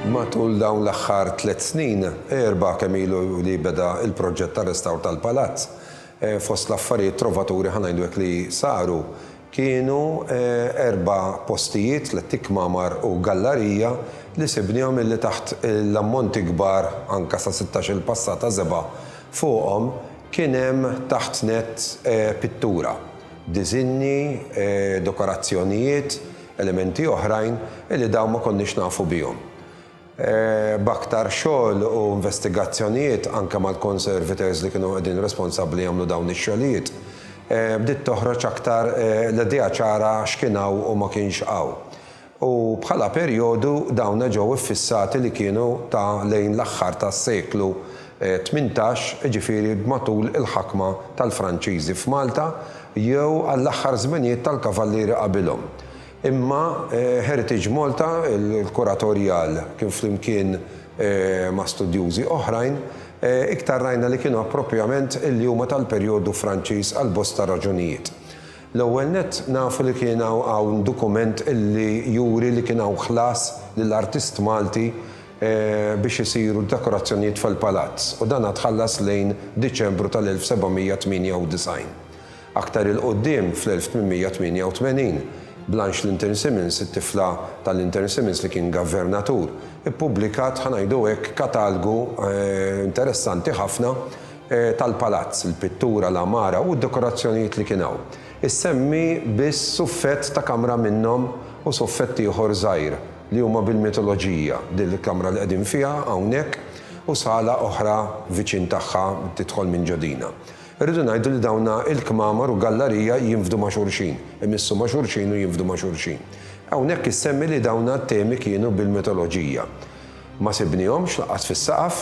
Matul dawn l-aħħar tliet snin, erba' kemm ilu li beda l-proġett tar-restawr tal-palazz, fost l-affarijiet trovaturi ħa ngħidu hekk li saru, Kienu erba' postijiet, tlett ikmamar u gallarija, li sibnihom illi taħt l-ammonti kbar, anke sa sittax-il passata żebgħa fuqhom, kien hemm taħt nett pittura, diżinji, dekorazzjonijiet, elementi oħrajn illi dawn ma konniex nafu bihom. b'aktar xogħol u investigazzjonijiet anke mal-conservators li kienu qegħdin responsabbli jagħmlu dawn ix-xogħlijiet, bdiet toħroġ aktar l-idea ċara x'kien hawn u ma kienx hawn. U bħala perjodu dawna ġew iffissati li kienu ta' lejn l-aħħar tas-seklu tmintax, jiġifieri b'matul il-ħakma tal-Franċiżi f'Malta jew għall-aħħar żminijiet tal-Kavallieri qabilhom. Imma Heritage Malta, il-kuratorjal kien flimkien ma' studjużi oħrajn, iktar rajna li kienu approprjament li huma tal-perjodu Franċiż għal bosta raġunijiet. L-ewwel nett nafu li kien hawn dokument li juri li kien hawn ħlas lil artist Malti biex isiru d-dekorazzjonijiet fil-palazz u dan tħallas lejn Diċembru tal-1798. Aktar 'il quddiem, fl-1888, Blanche Linton Simmonds, it-tifla ta' Linton Simmonds li kien gavernatur, ippubblikat, ħa ngħidu hekk, katalgu interessanti ħafna tal-palazz, il-pittura, l-għamara u d-dekorazzjonijiet li kien hawn. Issemmi biss suffett ta' kamra minnhom u suffett ieħor żgħir li huma bil-mitoloġija, din il-kamra li qegħdin fiha hawnhekk u sala oħra viċin tagħha tidħol minn ġo dina. Irridu ngħidu li dawn il-kmamar u gallarija jinfdu ma' xulxin, imissu ma' xulxin u jinfdu ma' xulxin. Hawnhekk issemmi li dawn t-temi kienu bil-mitoloġija. Ma sibnihomx lanqas fis-saqaf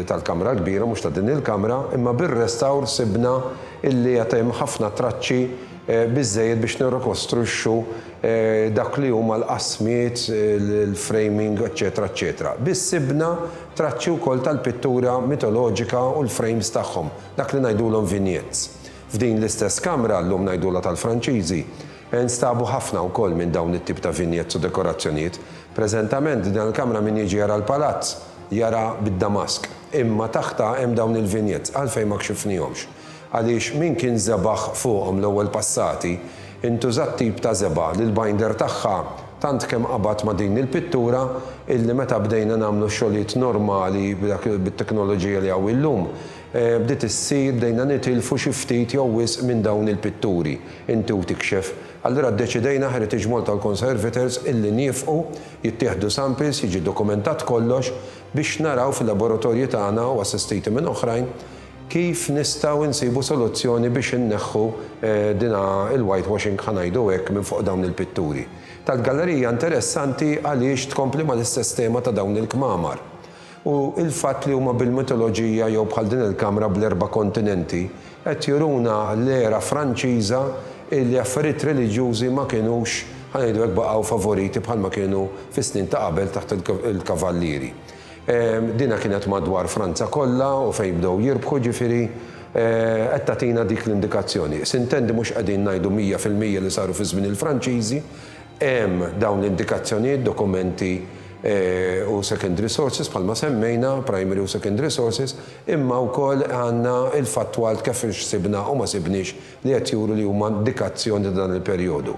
tal-kamra l-kbira, mhux ta' din il-kamra, imma bir-restawr sibna illi għad hemm ħafna traċċi biżżejjed biex nirrikostruixxu dak li huma l-qasmiet, il-framing, eċċetera eċċetera. Biss sibna traċċi wkoll tal-pittura mitoloġika u l-frames tagħhom. Dak li ngħidulhom vignettes. F'din l-istess kamra, llum ngħidulha tal-Franċiżi, instabu ħafna wkoll minn dawn it-tip ta' vignettes u dekorazzjonijiet. Preżentament, din il-kamra min jiġi jara l-palazz, jara bid-damask. Imma taħtha hemm dawn il-vignettes. Għalfejn ma kxifnihomx? Għaliex min kien żebagħ fuqhom l-ewwel passati, intuża t-tip ta' żebgħa li l-binder tagħha, Tant kemm qabad ma' din il-pittura illi meta bdejna nagħmlu xogħlijiet normali b'dak bit-teknoloġija li hawn illum, bdiet issir bdejna nitilfu xi ftit jew wisq minn dawn il-pitturi, inti u tikxef. Allura ddeċidejna Heritage Malta u l-Conservators illi niefqu, jittieħdu samples, jiġi dokumentat kollox biex naraw fil-laboratorji tagħna u assistiti minn oħrajn, Kif nistgħu nsibu soluzzjoni biex inneħħu din il-whitewashing ħa ngħidu hekk minn fuq dawn il-pitturi? Tal-gallerija hija interessanti għaliex tkompli mal-istess tema ta' dawn il-kmamar. U l-fatt li huma bil-mitoloġija jew bħal din il-kamra bl-erba' kontinenti qed juruna l-era Franċiża li affarijiet reliġjużi ma kinux, ħa ngħidu hekk, baqgħu favoriti bħalma kienu fis-snin ta' qabel taħt il-Kavallieri. Dina kienet madwar Franza kollha u fejn bdew jirbħu, ġifieri qed tagħtina dik l-indikazzjoni. S'intendi mhux qegħdin ngħidu mija fil-mija li saru fi żmien il-Franċiżi, hemm dawn l-indikazzjonijiet, dokumenti u secondary sources bħalma semmejna, primary u secondary sources, imma wkoll għandna il-fattwalt kif x'sibna u ma sibniex li qed juru li huma indikazzjoni ta' dan il-perjodu.